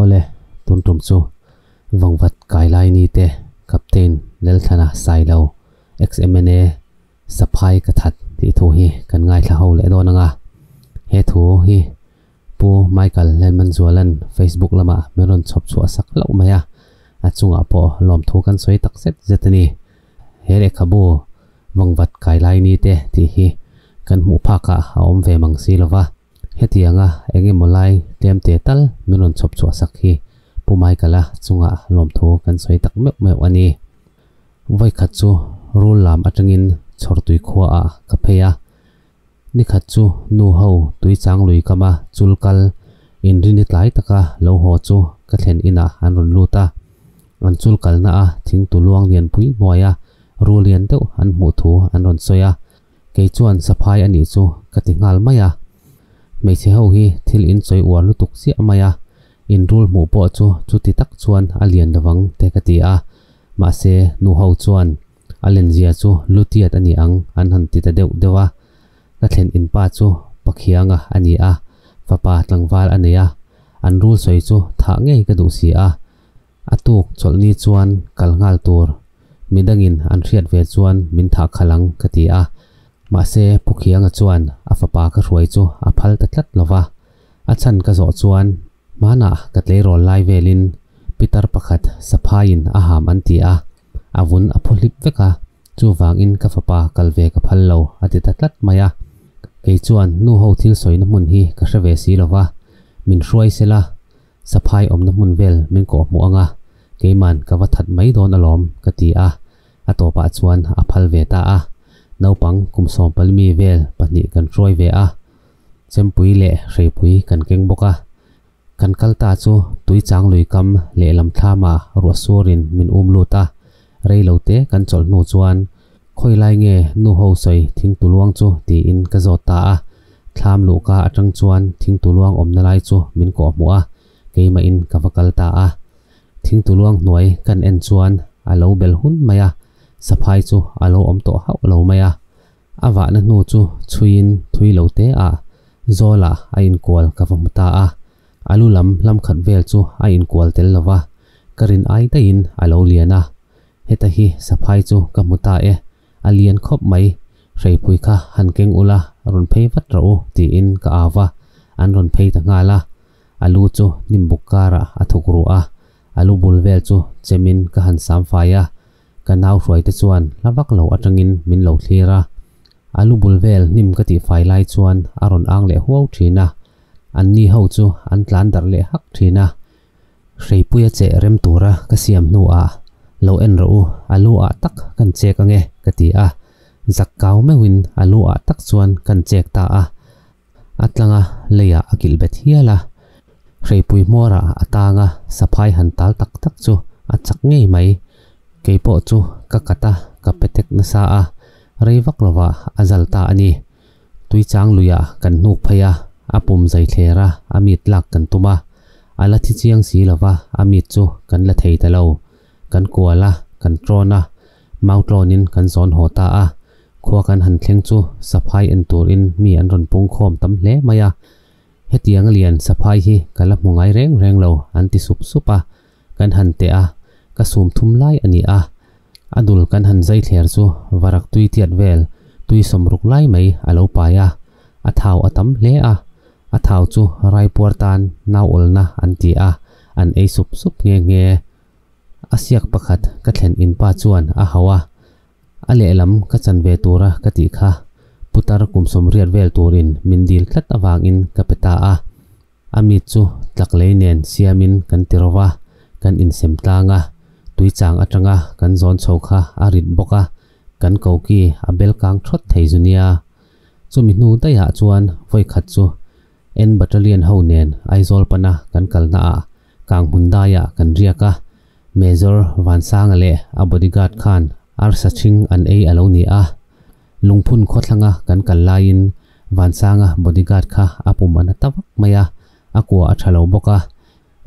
Awle, tun tum chu vang vat kai lai ni te, Captain Lelthlana sai lo, XMNA saphai ka that tih thu hi kan ngaithla ho leh dawn ang a, he thu hi Pu Michael Hlenmanzualan Facebook lamah min rawn chhawp chhuah sak loh mai a, a chungah pawh lawmthu kan sawi tak zet zet a ni. He lehkhabu vangvat kai lai ni te tih hi kan hmuh phakah a awm ve mang si lova, hetianga eng emaw lai tlem te tal min rawn chhawp chhuah sak hi Pu Michael-a chungah lawmthu kan sawi tak meuh meuh a ni. Vawikhat chu rul lam atangin chhawr tui khuaah ka phei a, Nikhat chu nu ho tui chang lui kam a chul kal in ri ni tlai taka lo haw chu ka thlen inah an rawn lut a. An chul kalna a thing tu luang lian pui hnuai a ru lian deuh an hmuh thu an rawn sawi a, kei chuan saphai a nih chu ka ti nghal mai a. Hmeichhe ho hi thil in sawi uar lutuk chiah mai a, in rul hmuh pawh chu chuti tak chuan a lian lovang te ka ti a, mahse nu ho chuan A lenzia chu Lutiat a ni ang, an han ti ta deuh deuh a. Ka thlen in pa chu Pakhianga a ni a, fapa tlangval a nei a, an rul sawi chu thah ngei ka duh si a. A tuk chawlhni chuan kal nghal tur midangin an hriat ve chuan min thah khalh ang ka ti a. Mahse Phukhianga chuan a fapa ka hruai chu a phal ta tlat lova, a chhan ka zawh chuan Hmanah ka tleirawl lai velin pitar pakhat saphaiin a ham an ti a, a vun a phaw hlip vek a, chuvangin ka fapa kal ve ka phal lo a ti ta tlat mai a, kei chuan nu ho thil sawina hmun hi ka hre ve si lo va, min hruai se la, saphai awmna hmun vel min kawh hmu anga keiman ka va that mai dawn alawm ka ti a, a tawpah chuan a phal ve ta a, naupang kum sawmpali mi vel pahnih kan hruai ve a, Chempui leh Hreipui kan keng bawk a, kan kal ta chu tui chang lui kam leh lam thlama ruah sur in min um lut a, rei lo te kan chawlh hnu chuan khawi lai nge nu ho sawi thing tu luang chu tiin ka zawt ta a, thlam luh ka atang chuan thing tu luang awmna lai chu min kawh hmu a, keimah in ka va kal ta a, thing tu luang hnuai kan en chuan a lo bel hun mai a, saphai chu a lo awm tawh hauh lo mai a. A vahna hnu chu chhuiin thui lo te ah Zawla a inkual ka va hmu ta a, a lu lam hlamkhat vel chu a inkual tel lo va, ka rin ai daihin a lo lian a. Heta hi saphai chu ka hmu ta e, a lian khawp mai, hreipui kha han keng ula rawn phei vat rawh u tiin ka au va, an rawn phei ta nghal a, a lu chu hnimbuk karah a thuk ruh a, A lu bul vel chu chemin ka han sam fai a, ka nau hruai te chuan hla vak lo atangin min lo thlir a. A lu bul vel hnim ka tih fai lai chuan a rawn ang leh huau thin a, an ni ho chu an tlan darh leh hak thin a. Hreipuia che rem tura ka siam hnuah, Lo en rawh u, a lu ah tak kan chek ange, ka ti a. Zak kau meuhin a lu ah tak chuan kan chek ta a. A tlanga leiah a kilh bet hial a, hreipui hmawrah a tanga saphai han tal tak tak chu a chak ngei mai. Kei pawh chu ka kat a, ka pe tek nasa a, rei vak lova a zal ta a ni. Tui chang luia kan hnuk phei a, a pum zai thler a, a mit lak kan tum a. A la thi chiang si lova a mit chu kan la thei ta lo. Kan kual a, kan ṭawn a, Mau tlawnin kan zawn haw ta a, khua kan han thleng chu saphai en turin mi an rawn pungkhawm tam hle mai a. Hetiang a lian, saphai hi ka la hmu ngai reng reng lo, an ti sup sup a. Kan han teh a, ka sum thum lai a ni a. A dul kan han zai thler chu varak tui tiat vel, tui sawm ruk lai mai a lo pai a. A thau a tam hle a, a thau chu raipuar tan nauawlna an ti a, an ei sup sup nghe nghe. A siak pakhat ka thlen in pa chuan a hau a, a lehlam ka chan ve tura ka tih kha putar kum sawmriat vel tur in min dil tlat avang in ka pe ta a, a mit chu tlak lei nen siam in kan ti rova kan in sem tlang a, tui chang atang a kan zawn chho kha a rit bawk a, kan koki a bel kang thawt thei zu nia, chumi hnu daih ah chuan vawikhat chu en battalion ho nen Aizawl pana kan kal hna ah Kang Hmundaiah kan riak a, Major Vansanga leh a bodyguard khan arsa chhing an ei a lo ni a. Lungphun khawthlanga kan kal laiin Vansanga bodyguard kha a pum a na ta vak mai a, a kua a tha lo bawk a.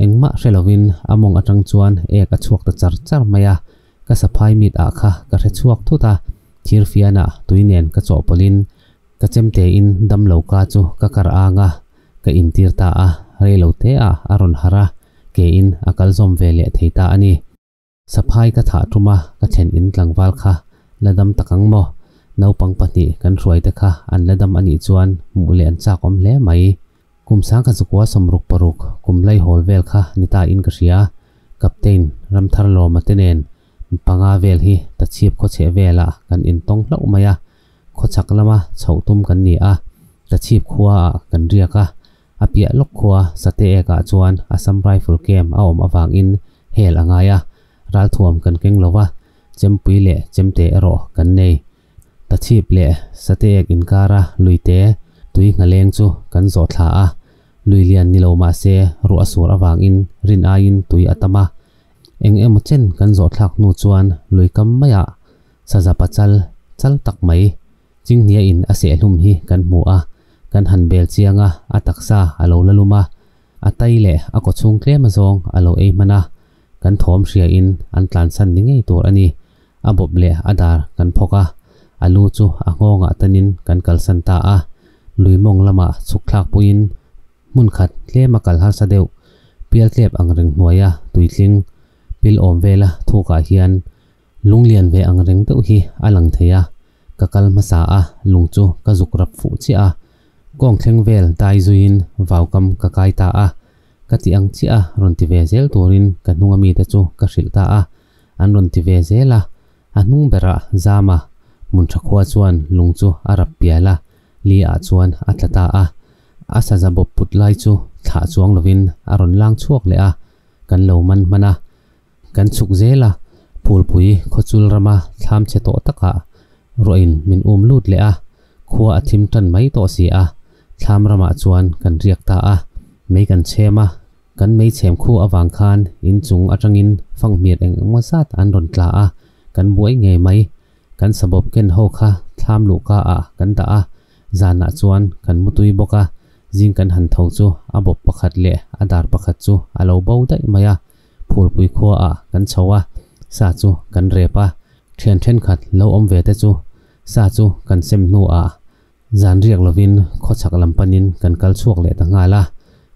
Engmah hre lovin a mawng atang chuan ek a chhuak ta char char mai a, ka saphai mit ah kha ka hre chhuak thut a, thirfianah tui nen ka chawhpawlhin Ka chem tein damlo ka chu ka kar anga ka intir ta a, reilo teah a rawn har a, ke in a kalzawm ve leh thei ta a ni. Saphai ka thah ṭum a, ka thlen in tlangval kha la dam tak ang maw? Naupang pahnih kan hruai te kha an la dam a nih chuan hmuh leh an chakawm hle mai. Kum sangkha chu kua sawm ruk paruk, kum lai hawl vel kha ni ta in ka hria. Captain Ramtharlawma te nen panga vel hi ta chhiap khawchheh velah kan intawng hlauh mai a, khawchhak lama chhoh tum kan ni a, ka chhip khuaah kan riak a, a piah lawk khua sate ekah chuan Assam Rifle Camp a awm avangin hell a ngai a, ralthuam kan keng lo va, chempui leh chemte erawh kan nei. Ta chhip leh sate ek inkara luite tui nghaleng chu kan zawh thla a, lui lian ni lo mahse ruh a sur avangin rin aiin tui a tam a, eng emaw chen kan zawhthlak hnu chuan lui kam maiah Saza pachal chal tak mai Chinghnia in a seh hlum hi kan hmu a, kan han bel chiang a, a taksa a lo la lum a, a tai leh a kaw chhung tlema zawng a lo ei hman a, kan thawm hria in an tlansan ni ngei tur a ni. A bawp leh a dar kan phawk a, a lu chu a nghawngah tanin kan kalsan ta a, lui mawng lamah chhuk thlak pui in hmun khat tlema kal harsa deuh, pial tlep ang reng hnuaia tui tling, pil awm vela thukah hian Lunglian ve ang reng deuh hi a lang thei a, ka kal hmasa a lung chu ka zuk rap fuh chiah a, kawng thleng vel dai zuiin vau kam ka kai ta a, ka ti ang chiah a rawn ti ve zel turin ka hnunga mite chu ka hrilh ta a, an rawn ti ve zel a, a hnung berah Zama Hmunthakhua chuan lung chu a rap pial a, Lee-a chuan a tla ta a, a saza bawp put lai chu thlah chuang lovin a rawn lang chhuak leh a, kan lo man hman a. Kan chhuk zel a, Phulpui khawchul rama thlamchhe tawh takah ruahin min um lut leh a, khua a thim tan mai tawh si a, thlam ramah chuan kan riak ta a, mei kan chhem a, kan mei chhem khu avang khan inchung atangin fanghmiat eng eng maw zat an rawn tla a, kan buai ngei mai, kan sabawp ken ho kha thlam luh ka ah kan dah a, zanah chuan kan mutui bawk a, zing kan han tho chu a bawp pakhat leh a dar pakhat chu a lo bo daih mai a, Phurpui khua ah kan chho a, sa chu kan rep a, thian thenkhat lo awm ve te chu sa chu kan sem hnu ah zan riak lo in khaw chhak lam pan in kan kal chhuak leh ta nghal a,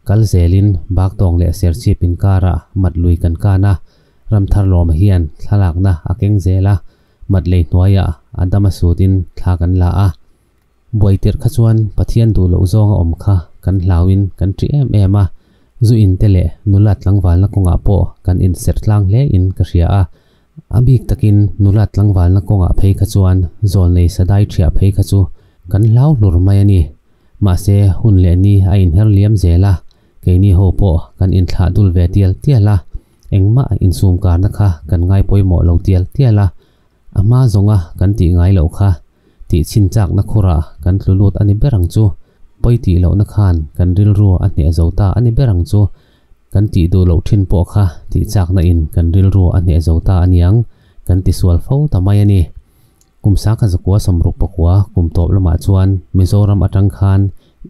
kal zel in bak tawng leh serchhip in kar ah mat lui kan kan a, ram thar lawm ah hian thlalak na a keng zel a, mat lei hnuai ah a dam a sut in thla kan la a. Buaiterh kha chuan Pathian duh loh zawnga awm kha kan hlauin kan ṭih em em a, zu inte leh nula tlangvalna kawngah pawh kan insertlang hle in ka hria a. A bik takin nula tlangvalna kawngah phei kha chuan zawl nei sadai ṭhiah phei kha chu kan hlau hlur mai a ni. Mahse hun leh ni a inher liam zel a, keini ho pawh kan inthlah dul ve tial tial a, engmah insumkarna kha kan ngai pawimawh lo tial tial a, A hma zawnga kan tih ngai loh kha tih chhin chakna khura kan tlu lut a ni ber ang chu. Pawi tih lohna khan kan rilru a hniah zo ta a ni ber ang chu. Kan tih duh loh thin pawh kha tih chakna in kan rilru a hniah zo ta a niang kan ti sual fo ta mai a ni. Kum Sakha zakua sawmruk pakua kum tawp lamah chuan Mizoram atang khan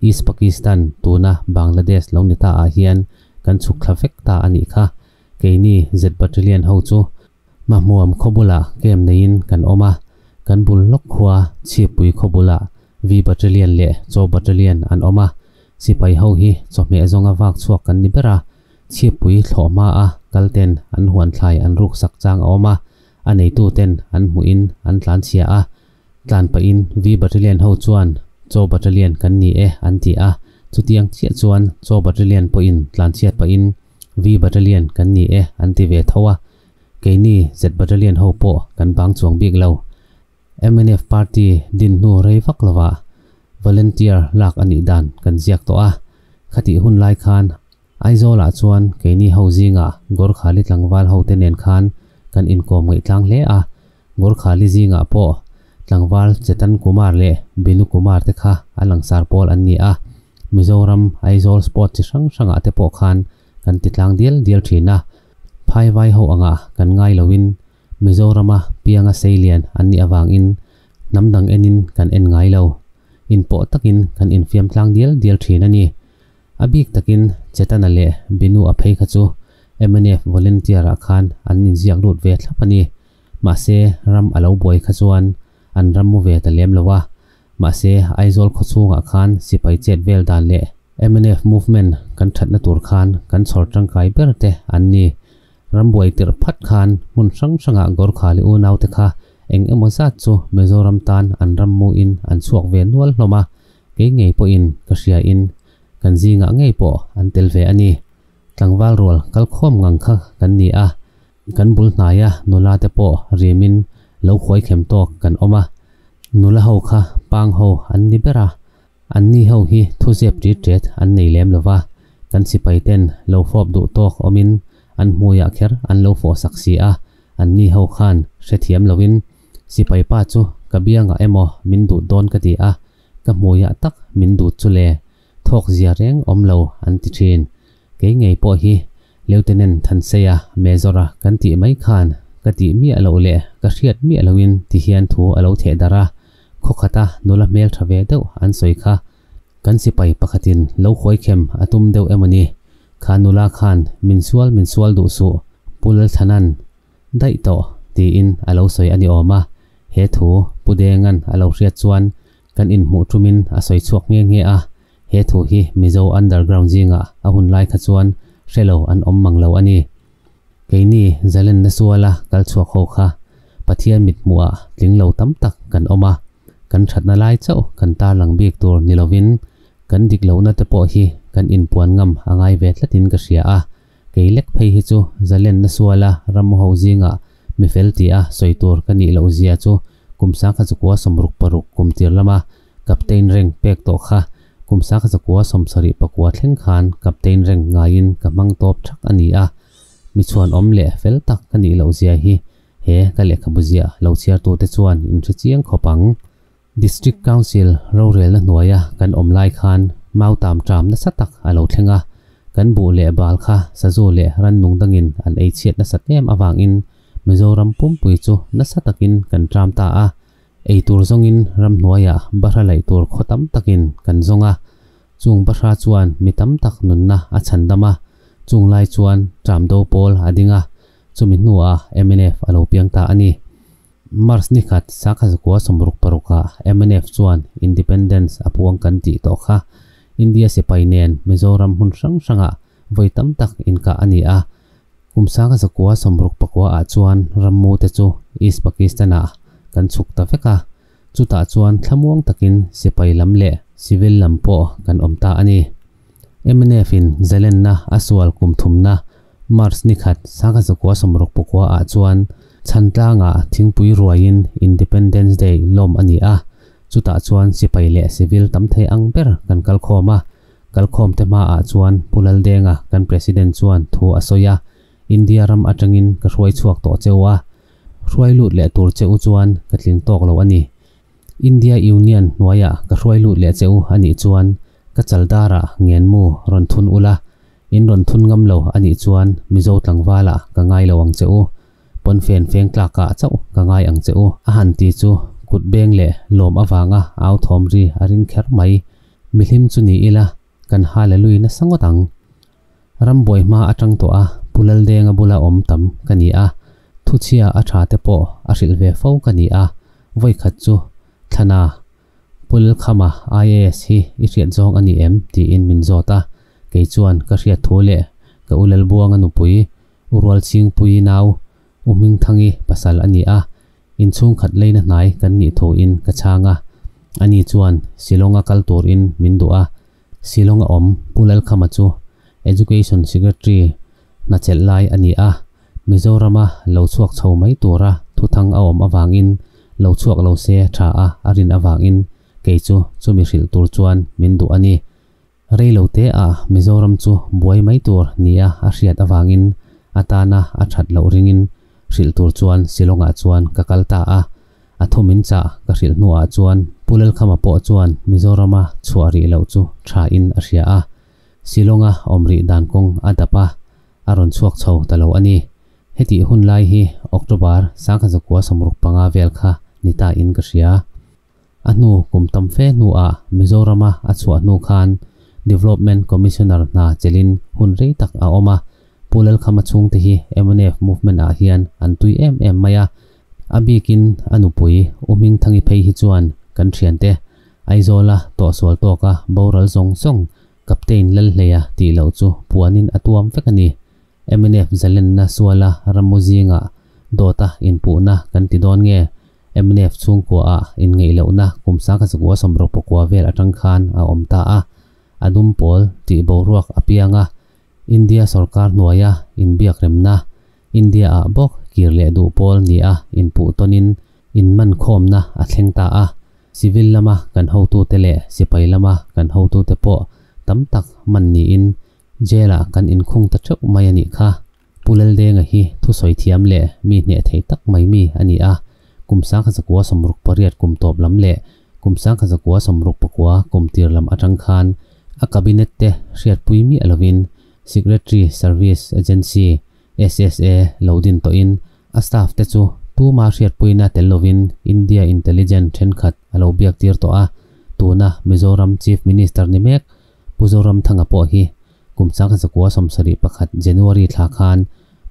East Pakistan tuna Bangladesh lo ni ta ah hian kan chhuk thla vek ta a nih kha. Keini Z Battalion ho chu Hmahmuam khawbulah camp neiin kan awm a, kan bul lawk khua Chhiappui khawbulah V Battalion leh Chaw Battalion an awm a. Sipai ho hi chawhmeh zawnga vak chhuak kan ni ber a, Chhiappui thlawh hmaa kalten an huanthlai an ruksak chang a awm a, a neituten an hmuhin an tlanchhia a. Tlan pahin V Battalion ho chuan Chaw Battalion kan ni e an ti a, chutiang chiah chuan Chaw Battalion pawhin tlanchhiat pahin V Battalion kan ni e an ti ve tho a, keini Z Battalion ho pawh kan bang chuang bik lo. Mnf party din hnu rei vak lovah volunteer lak a nih dan kan ziak tawh a, khatih hun lai khan Aizawlah chuan keini ho zingah Gorkha Li Tlangval hote nen khan kan inkawm ngaihtlang hle a, Gorkhali zingah pawh tlangval Chetan Kumar leh Binu Kumar te kha a langsar pawl an ni a, Mizoram, Aizawl spot chi hrang hrangah te pawh khan kan titlang dial dial thin a, phai vai ho angah kan ngai loin Mizorama pianga sei lian an nih avangin hnam dang enin kan en ngai lo, in pawh takin kan in fiamtlang dial dial thin a ni. A bik takin Chetana leh Binu a phei kha chu MNF volunteer-ah khan an inziak lut ve thlap a ni. Mahse, ram a lo buai kha chuan an ram mu ve ta lem lo a. Mahse, Aizawl khaw chhungah khan sipai chet vel dan leh mnf movement kan thatna tur khan kan chhawr tangkai ber te an ni. Ram buai tirh phat khan hmun hrang hrangah Gorkhali unaute kha eng emaw zat chu Mizoram tan an ram muin an chhuak ve nual hlawm a, kei ngei pawhin ka hriain kan zingah ngei pawh an tel ve a ni. Tlangval rual kal khawm ngang kha kan ni a, Kan bul hnaia nula te pawh rimin lo khuaikhem tawk kan awm a, nula ho kha pang ho an ni ber a, an ni ho hi thuzep ṭitṭet an nei lem lo va, kan sipai ten lo fawp duh tawk awmin an hmuiah kher an lo fawhsak si a, an ni ho khan hrethiam loin sipai pa chu ka biangah emaw min dut dawn ka ti a, ka hmuiah tak min dut chu le thawkzia reng awm lo an ti thin. Kei ngei pawh hi Lieutenant Thanseia Major-a kan tih mai khan ka tih miah loh leh ka hriat miah loin ti hian thu a lo theh darh a, khawkhata nula hmeltha ve deuh an sawi kha. Kan sipai pakhatin lo huaikhem a tum deuh em ani kha nula khan min sual min sual duh suh Pu Lalthanan daih tawh tiin a lo sawi a ni awm a, he thu Pu Dengan a lo hriat chuan Kan inhmuh tumin a sawi chhuak nghe nghe a, he thu hi Mizo underground zingah a hun lai kha chuan hre lo an awm mang lo a ni. Keini Zalenda suala kal chhuak ho kha Pathian mithmuhah tling lo tam tak kan awm a, kan thatna lai chauh kan tar lang bik tur ni lovin kan dik lohna te pawh hi kan inpuan ngam a ngai ve tlatin ka hria a. kei lek phei hi chu Zalenna suala ramo ho zingah mi fel tih a sawi tur ka nih loh zia chu kum sangkha chakua sawm ruk paruk kum tir lama captain reng pek tawh kha kum sangkha chakua sawm sarih pakua thleng khan captain reng ngaiin ka hmang tawp thak a ni a. Mi chhuan awm leh fel tak ka nih loh zia hi he ka lehkhabu ziah lo chhiartute chuan in hre chiang khawp ang. District Council rorelna hnuaia kan awm lai khan mau tam ṭam nasa tak a lo thleng a, kan buh leh bal kha Sazu leh Rannung dangin an ei chhiat nasat em avangin Mizoram pumpui chu nasa takin kan ṭam ta a, ei tur zawngin ram hnuaia bahra laih tur khaw tam takin kan zawng a, chung bahra chuan mi tam tak nunna a chhan dam a, chung lai chuan ṭam do pawl a ding a, chumi hnuah MNF a lo piang ta a ni. March ni khat Sakha Zakua sawmruk parukah MNF chuan Independence a puang kan tih tawh kha India sipai nen Mizoram hmun hrang hranga vawi tam tak inkah a ni a. Kum Sakha Zakua sawmruk pakua ah chuan rammu te chu East Pakistan ah kan chhuk ta vek a, chutah chuan thlamuang takin sipai lam leh civil lam pawh kan awm ta a ni. MNF-in Zelenna a sual kum thumna March ni khat Sangha Zakua Sawmrawk Pakua ah chuan Chhantlanga thingpui ruaiin Independence Day lawm a ni a, chutah chuan sipai leh civil tam thei ang ber kan kal khawm a. Kal khawm te hma ah chuan Pu Laldenga kan President chuan thu a sawi a, India ram atangin ka hruai chhuak tawh che u a, hruai lut leh tur che u chuan ka tling tawk lo a ni. India Union hnuaia ka hruai lut leh che u a nih chuan ka chaldara ngenmu rawn thun ula, in rawn thun ngam lo a nih chuan Mizo tlangvala ka ngai lo ang che u, pawnfen fengtlakah chauh ka ngai ang che u. A han ti chu kut beng leh lawm avanga authawm ri a ring kher mai. Mihlim chu ni ila Kan haleluii nasa ngawt ang. Rambuai hma atang tawh a, Pu Laldenga bula awm tam ka ni a, thuchhia a tha te pawh a hrilh ve fo ka ni a, vawikhat chu thlana Pu Lalkhama IAS hi i hriat zawng a ni em tiin min zawt a, kei chuan ka hriat thu leh ka u Lalbuanga nupui u Rualchingpui nau U Hming Thangi pasal a ni a, inchhungkhat leina hnai kan nih tho in ka chhang a, ani chuan Shillong a kal tur in min duh a, Shillong a awm Pu Lalkhama chu Education Secretary hna chelh lai a ni a, Mizoram a lo chhuak chho mai tura thuthang a awm avang in lo chhuak lo se tha a a rin avang in kei chu chumi hrilh tur chuan min duh a ni. Reilo te a Mizoram chu buai mai tur nia a hriat avangin atana a that loh ringin hrilh tur chuan Shillongah chuan ka kal ta a, a thu min chah ka hrilh hnuah chuan Pu Lelkhama pawh chuan Mizorama chhuah rih loh chu tha in a hria a, Shillonga awm rih dan kawng a dap a, a rawn chhuak chho ta lo a ni. Heti hun lai hi October, Sangha Zakua samruk panga vel kha ni ta in ka hria. a hnu kum tam fe hnu ah Mizoram a a chhuah hnu khan Development Commissioner hna chelhin hun rei tak a awm a, Pu Lelkhama chhung te hi MNF movement ah hian an tui em em mai a, a bik in a nupui U Hming Thangi phei hi chuan kan thian te Aizawl a tawh sual tawk a boral zawng zawng Captain lal hlei a tih loh chu puan in a tuam vek a ni, MNF zalenna sual a ramu zing ah dawt a inpuh na kan ti dawn nge? Mnf chhungkua ah inngeihlohna kum Sakazakua Somrokpakua vel atang khan a awm ta a, a dum pawl tih boruak a piang a, India sorkar hnuaia inbiakremna, India ah bawk kir leh duh pawl nia inpuh tawn in inmankhawmna a thleng ta a, civil lama kan hotu te leh sipai lama kan hotu te pawh tam tak man niin jail ah kan inkhung ta theuh mai a nih kha. Pu Laldenga hi thusawi thiam leh mi hneh theih tak mai mi a ni a, kum sangkha zakua sawmruk pariat kum tawp lam leh kum sangkha zakua sawmruk pakua kum tir lam atang khan a cabinet te hriatpui miah lovin Secretary Service Agency, SSA, lo din tawhin a staff te chu tuma hriatpuina tel lovin India Intelligent thenkhat a lo biaktir tawh a, tuna Mizoram Chief Minister ni mek Pu Zoramthanga pawh hi Kum chang zakua sawmsa leh pakhat January thla khan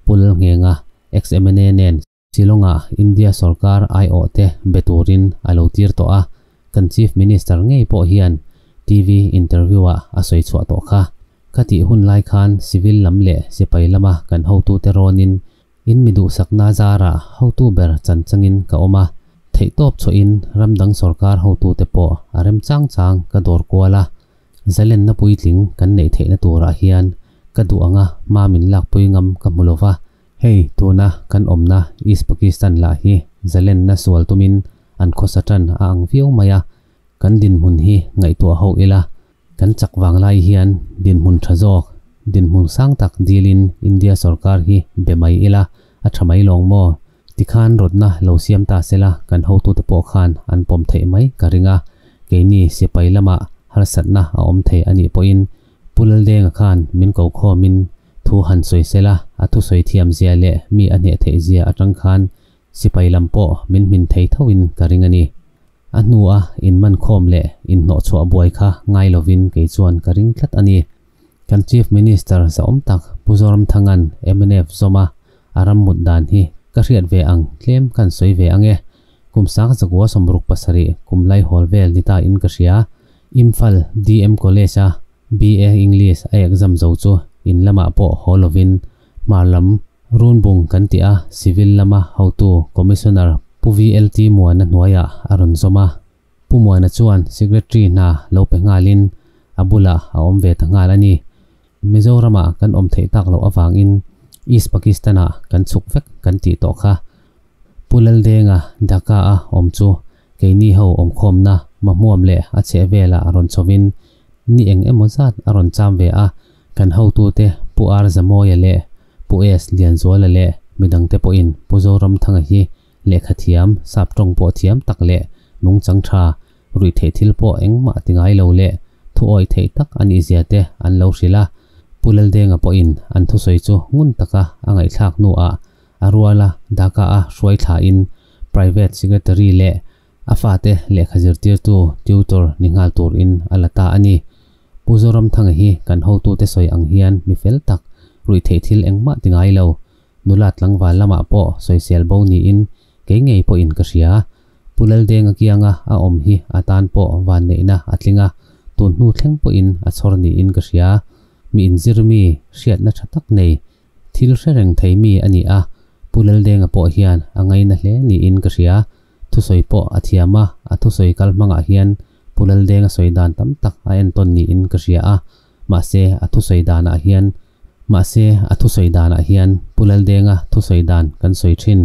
Pul Lngenga xmna nen Shillonga India sorkar ai awh te be turin a lo tir tawh a, kan Chief Minister ngei pawh hian TV interview-ah a sawi chhuah tawh kha. Ka tih hun lai khan civil lam leh sipai lama kan hotute rawnin In mi duhsakna zarah hotu ber chanchangin ka awm a, theihtawp chhuahin ram dang sorkar hotute pawh a rem chang chang ka dawr kual a, zalenna puitling kan neih theihna turah hian ka duh anga hma min lakpui ngam ka hmu lova, hei tuna kan awmna East Pakistan lah hi zalenna sual tumin an khawsa tan a ang viau mai a, kan dinhmun hi ngaihtuah ho ila. Kan chak vang lai hian dinhmun tha zawk, dinhmun sang tak dilin India sorkar hi be mai ila, a tha mai lawng maw? Tikhan rawtna lo siam ta sela kan hotute pawh khan an pawm theih mai ka ring a, keini sipai lamah harsatna a awm thei anih pawhin Pu Laldenga khan min ko khawmin thu han sawi sela, a thusawi thiamzia leh mi a hnehtheitzia atang khan Sipai lam pawh min hmin thei thoin ka ring a ni. A hnua in man khawm leh in hnawh chhuah buai kha ngai lovin kei chuan ka ring tlat a ni. Kan Chief Minister zahawm tak Pu Zoramthanga'n mnf zawma a ram mut dan hi ka hriat ve ang tlem kan sawi ve ang e. Kum sang zakua sawmruk pasarih kum lai hawl vel ni ta in ka hria Imphal DM College-a BA English a exam zo chu in lamah pawh haw lovin Hmar lam, Runbung kan tih a, Civil lama hotu Commissioner Pu VLT Muana hnuaiah a rawn zawm a. Pu Muana chuan Secretary hna lo pe nghalin a bulah a awm ve ta nghal a ni. Mizorama kan awm theih tak loh avangin East Pakistana kan chhuk vek kan tih tawh kha. Pu Laldenga Dhaka-a awm chu keini ho awmkhawmna mahmuam leh a chhehvela rawn chhovin ni eng emaw zat a rawn cham ve a, kan hotute Pu Ar Za Mawia leh Pu S Lianzuala leh midang te pawhin Pu Zoramthanga hi lehkha thiam, sap tawng pawh thiam tak leh nungchang tha, ruih theih thil pawh engmah ti ngai lo leh thu awi theih tak a nih zia te an lo hrilh a, Pu Laldenga pawhin an thusawi chu ngun taka a ngaihthlak hnuah a rual a, Dhaka-a hruai thlain Private Secretary leh A fate lehkha zirtirtu, tutor, ni nghal turin a la ta a ni. Pu Zoramthanga hi kan hotute sawi ang hian mi fel tak, ruih theih thil engmah ti ngai lo. Nula tlangval lamah pawh sawisel bo niin kei ngei pawhin ka hria. Pu Laldenga kianga a awm hi a tan pawh vanneihna a tling a, tun hnu thleng pawhin a chhawr niin ka hria. Mi inzir mi, hriatna tha tak nei, thil hre reng thei mi a ni a. Pu Laldenga pawh hian a ngaina hle niin ka hria. thusawi pawh a thiam a, a thusawi kal hmangah hian Pu Laldenga sawi dan tam tak a en tawn niin ka hria a, mahse a thusawi danah hian mahse a thusawi danah hian Pu Laldenga thusawi dan kan sawi thin.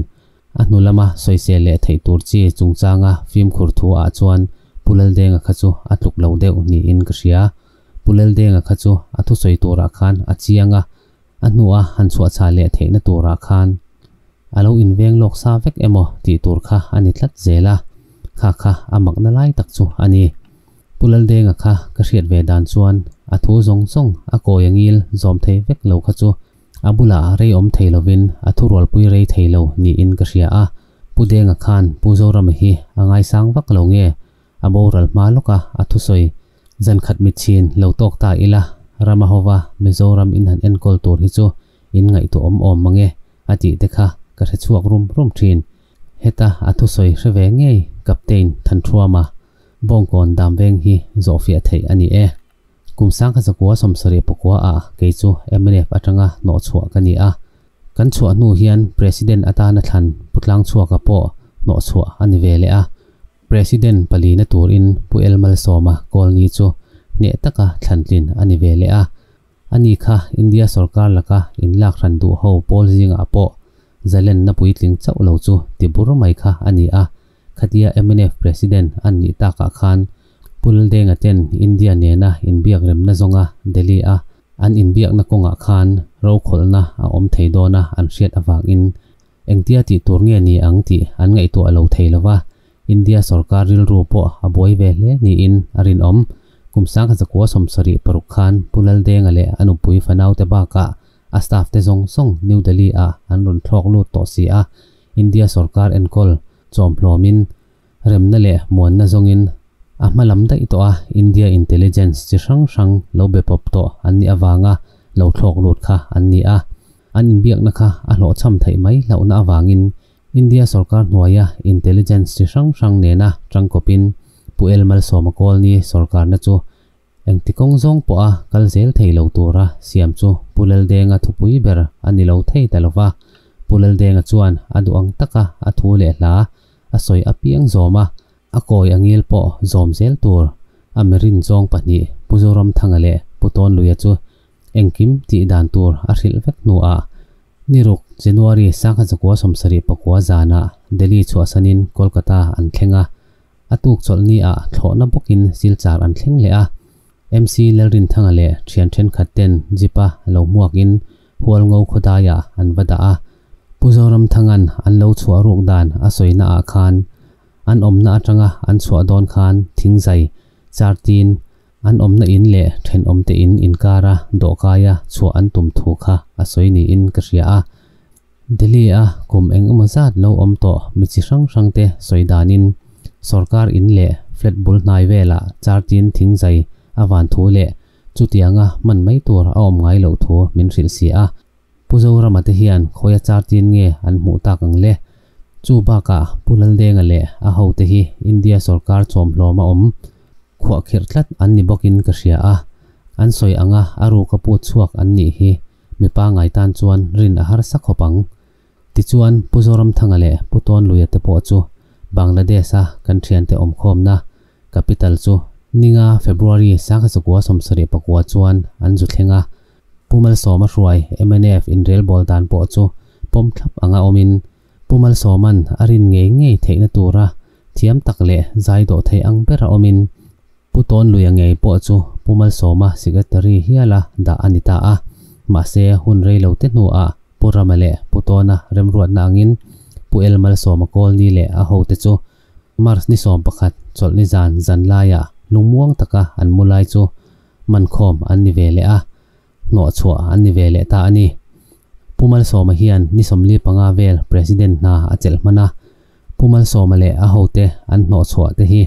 A hnu lama sawiseh leh theih tur chi chungchanga fimkhur thu ah chuan Pu Laldenga kha chu a tluk lo deuh niin ka hria. Pu Laldenga kha chu a thusawi turah khan a chiang a, A hnua han chhuahchah leh theihna turah khan a lo inveng lawk sa vek emaw tih tur kha a ni tlat zel a, kha kha a makna lai tak chu a ni. Pu Laldenga kha ka hriat ve dan chuan a thu zawng zawng a kawi a ngil zawm thei vek lo kha chu a bulah reiawm thei lovin a thu rualpui rei thei lo niin ka hria a, Pu Denga khan Pu Zorama hi a ngaisang vak lo nge a boral hma lawka a thusawi zan khat mi chhin lo tawk ta ila, Rama hova Mizoram in han enkawl tur hi chu in ngaihtuah awm awm mange a tih te kha ka hre chhuak rum rum thin. Heta a thusawi hre ve ngei Captain Thanthuama Bawngkawn Damveng hi zawhfiah theih a ni e. Kum sang kha zakua sawmsarih pakua ah kei chu MNF atanga hnawh chhuah ka ni a, kan chhuah hnu hian President atana thlan pu tlang chhuak a pawh hnawh chhuah a ni ve leh a, President palina turin Pu El Malsawma Colony chu hneh taka thlantlin a ni ve leh a, a ni kha India sorkar laka inlak hran duh ho pawl zingah pawh zalenna puitling chauh lo chu ti bur mai kha a ni a, khatia MNF President an nih takah khan Pu Ldenga ten India nena inbiak remna zawnga Delhi-a an inbiakna kawngah khan rokhawlna a awm thei dawna an hriat avangin Engtia tih tur nge ni ang tih an ngaihtuah lo thei lo va, India sorkar rilru pawh a buai ve hle niin a rinawm. Kum Sangha Zakua Sawmsarih paruk khan Pu Laldenga leh a nupui fanaute bakah a staff te zawng zawng New Delhi-ah an rawn thlawk lut tawh si a, India sorkar enkawl chawmhlawmin Remna leh muanna zawngin a hma lam daih tawh a, India intelligence chi hrang hrang lo be pawp tawh an nih avanga lo thlawk lut kha an ni a. An inbiakna kha a hlawh chham theih mai hlauhna avangin India sorkar hnuaia intelligence chi hrang hrang nena tangkawpin Pu L Malsawma Colony sorkarna chu Engti kawng zawng pawha kal zel thei lo tura siam chu Pu Laldenga thupui ber a ni lo thei ta lova. Pu Laldenga chuan a duh ang taka a thu leh hla a sawi apiang zawm a, a kawi a ngil pawh zawm zel tur a mi rin zawng pahnih Pu Zoramthanga leh Pu Tawnluia chu engkim tih dan tur a hrilh vek hnuah ni ruk January sangha zakua sawmsarih pakua zanah Delhi chhuahsanin Kolkata an thleng a. a tuk chawlh ni ah thlawhna bawk in silchar an thleng leh a. MC Lalrinthanga leh thian thenkhat ten Jeep a lo hmuak in hual ngo khawdai ah an va dah a. Pu Zoramthanga'n an lo chhuah ruk dan a sawi na ah khan an awmna atanga an chhuah dawn khan thing zai char tin an awmna in leh thenawm te in inkar a dawhkai a chhuah an tum thu kha a sawi ni in ka hria a. Delhi-a kum eng emaw zat lo awm tawh mi chi hrang hrangte sawi danin sorkar in leh flat bul hnai velah chartin thing zai a van thu leh chutianga hman mai tur a awm ngai loh thu min hrilh si a. Pu Zorama te hian khawia chartin nge an hmuh tak ang le? Chu bakah Pu Laldenga leh a ho te hi India sorkar chawmhlawm a awm khuah kherh tlat an ni bawkin ka hria a. An sawi anga a ruka put chhuak an nih hi mipa ngai tan chuan rin a harsa khawp ang. Tichuan, Pu Zoramthanga leh Pu Tawnluia te pawh chu Bangladesh-a kan thiante awmkhawmna capital chu Ninga, February, Sanghachakuaa sawmsarih pakua chuan an zu thleng a. Pu Malsawma hruai, MNF, inrelbawl dan pawh chu pawm thlap anga awmin, Pu Malsawman a rin ngei ngei theihna tura thiam tak leh zai dawh theih ang bera awmin Pu Tawnlui a ngei pawh chu Pu Malsawma secretary hiala dah a ni ta a. Mahse hun rei lo te hnuah Pu Rama leh Pu Tawna remruatna angin Pu El Malsawma colony leh a hote chu March ni sawm pakhat chawlh ni zan zan laiah lungmuang taka an mu lai chu mankhawm an ni ve leh a. hnawhchhuah an ni ve leh ta a ni. Pu Malsawma hian ni sawmli panga vel President hna a chelh hman a, Pu Malsawma leh a hote an hnawhchhuah te hi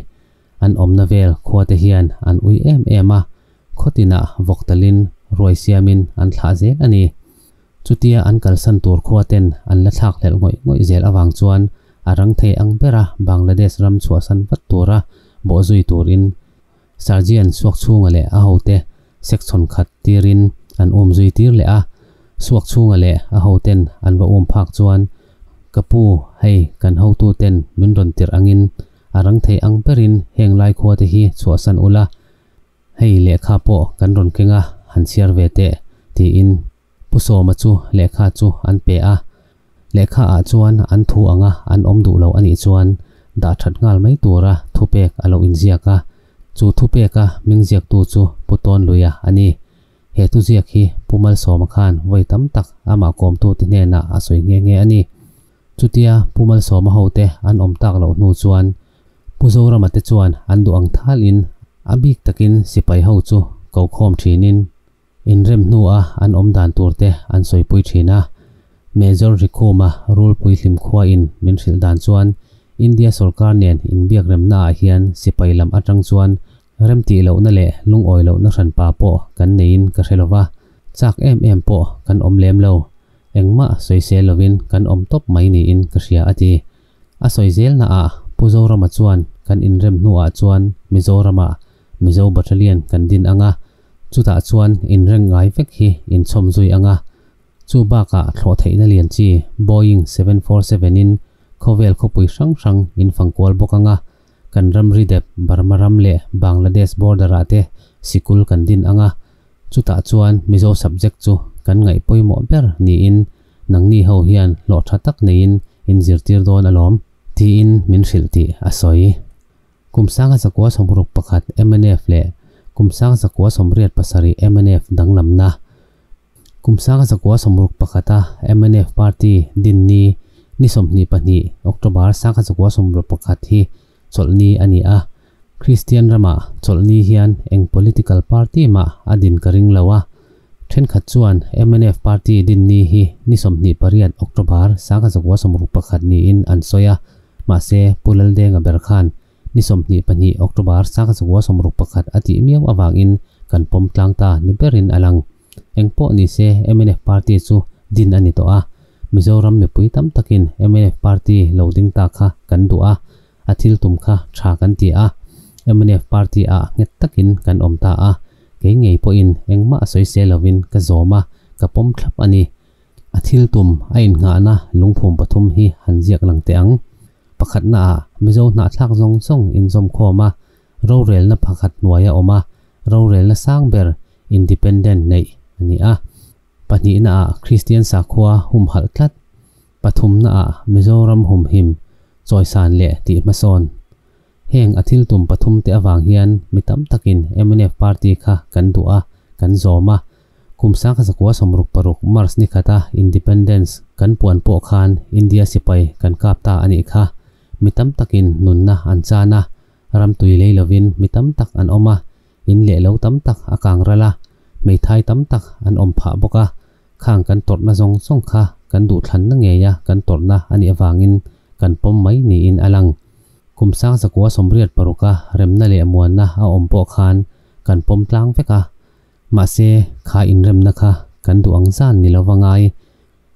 an awmna vel khua te hian an ui em em a, khawtinah vawk talhin ruai siamin an thlah zel a ni. Chutia an kalsan tur khua ten an la thlak hlelh ngawih ngawih zel avang chuan a rang thei ang bera Bangladesh ram chhuahsan vat tura bawh zui turin Sergeant suak chhunga leh a hote section khat tirin an awm zui tir leh a, suak chhunga leh a hoten an va awm phak chuan ka pu hei kan hotu ten min rawn tirh angin a rang thei ang berin heng lai khua te hi chhuahsan ula hei lehkha pawh kan rawn kenga han chhiar ve teh tiin Pu Sawma chu lehkha chu an pe a, lehkha ah chuan an thu anga an awm duh lo a nih chuan dah that nghal mai tura thupek a lo inziak a, chu thupeka hming ziaktu chu Pu Tawnluia a ni. He thuziak hi Pu Malsawma khan vawi tam tak amah kawmtute hnenah a sawi nghe nghe a ni. Chutia Pu Malsawma hote an awm tak loh hnu chuan Pu Zorama te chuan an duh ang thalin a bik takin sipai ho chu ko khawm thinin Inrem hnua an awm dan tur te an sawipui thin a. Major Rikuma rulpui hlimkhua in min hrilh dan chuan India sorkar nen inbiak remna ah hian sipai lam atang chuan remtih lohna leh lungawi lohna hran pa pawh kan nei in ka hre lo va, chak em em pawh kan awm lem lo, engmah sawi sel lo in kan awm tawp mai ni in ka hria a ti. A sawi zel na ah Pu Zorama chuan kan inrem hnu ah chuan Mizoram ah Mizo Battalion kan din ang a, chutah chuan inreng ngai vek hi inchhawm zui ang a. Chu bakah thlawh theihna lian chi Boeing seven four seven in khawvel khawpui hrang hrang in fang kual bawk ang a, kan ramri dep Burma ram leh Bangladesh border ah te sikul kan din ang a, chutah chuan Mizo subject chu kan ngaih pawimawh ber niin nangni ho hian hlawhtha tak neiin in zirtir dawn alawm, tiin min hrilh tih a sawi. Kum Sanga Zakua Sawmruk pakhat, mnf, leh Kum Sanga Zakua Sawmriat pasarih, mnf, danglamna. Kum Sanga Zakua Sawmruk pakhata mnf party dinni ni sawmhnih pahnih, October, Sanga Zakua Sawmruk pakhat hi chawlhni a ni a. Kristian rama chawlhni hian eng political party mah a din ka ring lo a. Thenkhat chuan mnf party dinni hi ni sawmhnih pariat, October, Sanga Zakua Sawmruk pakhat niin an sawi a. Mahse, Pu Laldenga ber khan ni sawmhnih pahnih October saka chakua sawmruk pakhat a tih miau avangin kan pawm tlang ta ni berin a lang. Engpawh ni se mnf party chu din a ni tawh a, Mizoram mipui tam takin mnf party lo ding ta kha kan duh a, a thil tum kha tha kan ti a, mnf party ah nghet takin kan awm ta a, kei ngei pawhin engmah sawi se lovin ka zawm a, ka pawm thlap a ni. A thil tum a innghahna lungphum pathum hi han ziak lang teh ang. Pakhatnaah, Mizo hnahthlak zawng zawng inzawmkhawm a, rorelna pakhat hnuai a awm a, rorelna sang ber, independent, neih a ni a. Pahnihnaah, Kristian sakhua humhalh tlat. Pathumnaah, Mizoram humhim, chawisan leh tih hmasawn. Heng a thil tum pathumte avang hian mi tam takin mnf party kha kan duh a, kan zawm a, Kum sangkhat zakua sawmruk paruk March ni khata Independence kan puan pawh khan India sipai kan kap ta a nih kha. Mi tam takin nunna an chan a, ram tui lei lovin mi tam tak an awm a, in leh lo tam tak a kang ral a, hmeithai tam tak an awm phah bawk a, khang kan tawrhna zawng zawng kha kan duhthlanna ngeia kan tawrhna a nih avangin kan pawm mai niin a lang. Kum sang zakua sawmriat paruka remna leh muanna a awm pawh khan kan pawm tlang vek a, Mahse, kha inremna kha kan duh ang zan ni lo va ngai.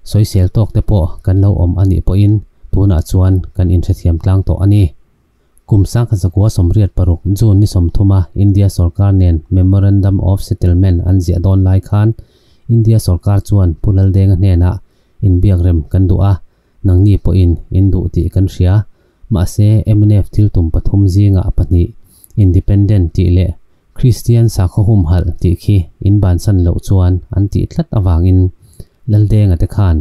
Sawisel tawk te pawh kan lo awm a nih pawhin tunah chuan kan inhrethiam tlang tawh a ni. Kum sangkhat zakua sawmriat paruk June ni sawmthuma India sawrkar nen Memorandum of Settlement an ziah dawn lai khan India sawrkar chuan Pu Lal Denga hnenah inbiak rem kan duh a, Nangni pawhin in duh tih kan hria. Mahse, MNF thil tum pathum zingah pahnih, Independent tih leh Kristian sakhaw humhalh tih khi in bansan loh chuan an tih tlat avangin Laldenga te khan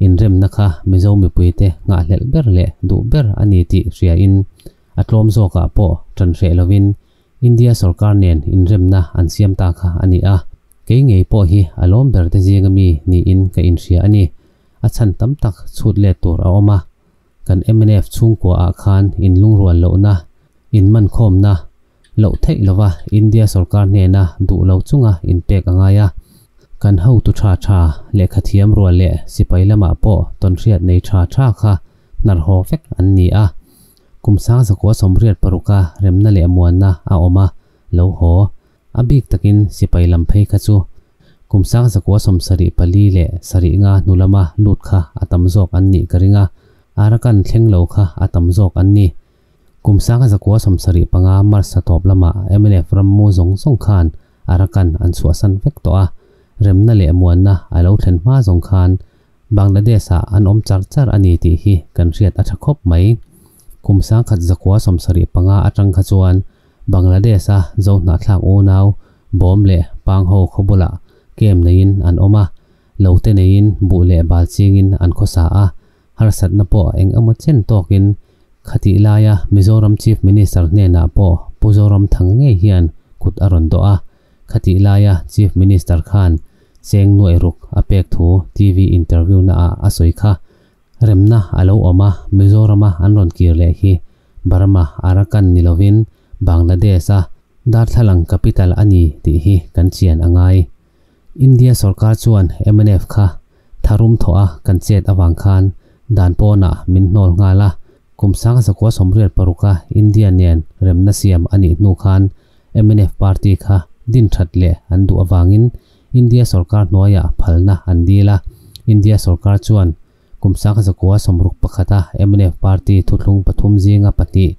inremna kha Mizo mipuite nghahhlelh ber leh duh ber a ni tih hriain a tlawm zawkah pawh tan hreh lovin India sorkar nen inremna an siam ta kha a ni a. Kei ngei pawh hi a lawm berte zinga mi niin ka inhria a ni. a chhan tam tak chhut let tur a awm a. Kan MNF chhungkua ah khan in lungrual lohna, in mankhawmna, loh theih lova India sorkar hnena duh lo chunga in pek a ngai a. Kan hotu tha tha, lehkha thiam rual leh sipai lamah pawh tawnhriat nei tha tha kha hnar haw vek an ni a. Kum sang zakua sawmriat paruk a remna leh muanna a awm a, lo haw A bik takin sipai lam phei kha chu kum sang zakua sawm sarih pali leh sarih nga hnu lama lut kha a tam zawk an nih ka ring a, Arakan thleng lo kha a tam zawk an ni. Kum sang zakua sawm sarih panga March-a tawp lama mlf ram mu zawng zawng khan Arakan an chhuahsan vek tawh a, remna leh muanna a lo thlen hma zawng khan Bangladesh-ah an awm char char a ni tih hi kan hriat a tha khawp mai. Kum sang khat zakua sawm sarih panga atang kha chuan Bangladesh a zohnahthlak unau bawm leh pangho khawbulah kem neiin an awm a, lote neiin buh leh bal chingin an khawsa a, harsatna pawh eng emaw chen tawkin khatih laia Mizoram Chief Minister hnenah pawh Pu Zoramthanga ngei hian kut a rawn dawh a, khatih laia Chief Minister khan cheng nuaih ruk a pek thu TV interview-na ah a sawi kha. Remna a lo awm a, Mizorama an rawn kir leh hi Burma, Arakan ni lovin Bangladesh a darthlalang capital a ni tih hi kan chian a ngai. India sorkar chuan mnf kha tharum thawh a kan chet avang khan dan pawnah min hnawl nghal a, kum sang zakua sawmriat paruka India nen remna siam a nih hnu khan mnf party kha din that leh an duh avangin India sorkar hnuaia phalna an dil a, India sorkar chuan kum sangha zakua sawmruk pakhata MNF party thuthlung pathum zinga pahnih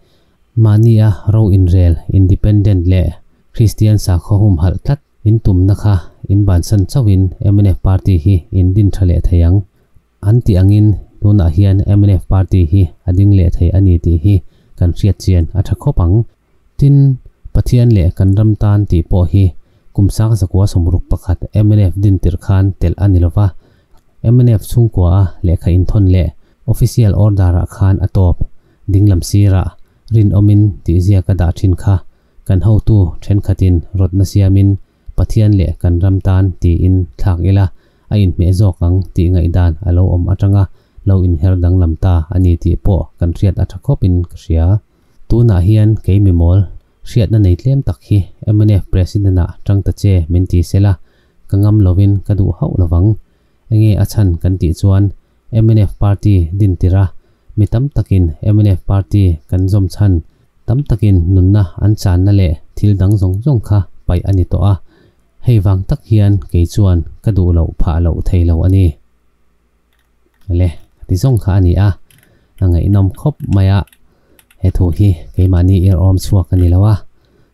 mahnia ro inrel independent leh Kristian sakhaw humhalh tlat in tumna kha inbansan chauhin MNF party hi in din tha leh thei ang an tih angin tunah hian MNF party hi a ding leh thei a ni tih hi kan hriat chian a tha khawp ang. Tin, Pathian leh kan ram tan tih pawh hi kum sang zakua sawmruk pakhat mnf din tirh khan telh a ni lo va, mnf chhungkuaha lehkha inthawn leh official order ah khan a tawp, dinglam sirah rinawmin tihziaka dah thin kha kan hotu thenkhatin rawtna siamin, Pathian leh kan ram tan tiin thlak ila a inhmeh zawk ang tih ngaihdan a lo awm atanga lo inher danglam ta a ni tih pawh kan hriat a tha khawpin ka hria. Tunah hian kei mimawl hriatna nei tlem tak hi mnf President-a tang ta che min ti sela ka ngam lovin ka duh hauh lovang. Eng nge a chhan kan tih chuan mnf party din tir a, mi tam takin mnf party kan zawm chhan, tam takin nunna an channa leh thil dang zawng zawng kha paih a ni tawh a, hei vang tak hian kei chuan ka duh loh phah loh thei lo a ni le ka ti zawng kha a ni a, a ngaihnawm khawp mai a. he thu hi keimahni irhawm chhuak a ni lo a,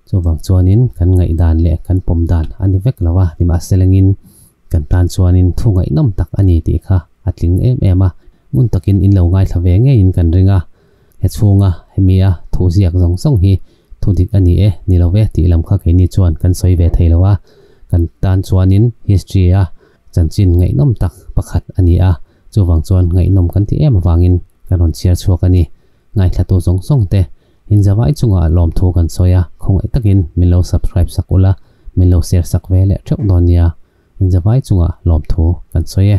chuvang chuanin kan ngaihdan leh kan pawm dan a ni vek lo a, nimahselengin kan tan chuanin thu ngaihnawm tak a ni tih kha a tling em em a, hmun takin in lo ngaithla ve ngeiin kan ring a, he chhunga hemia thu ziak zawng zawng hi thu dik a ni e, ni lo ve tih lam kha keini chuan kan sawi ve thei lo a, kan tan chuanin history-a chanchin ngaihnawm tak pakhat a ni a. Chuvang chuan ngaihnawm kan ti em avangin kan rawn chhiar chhuak a ni. Ngaihhlatu zawng zawng te, in zavai chungah lawmthu kan sawi a, khawngaih takin min lo subscribe sak ula, min lo share sak ve leh theuh dawn nia, in zavai chungah lawmthu kan sawi e.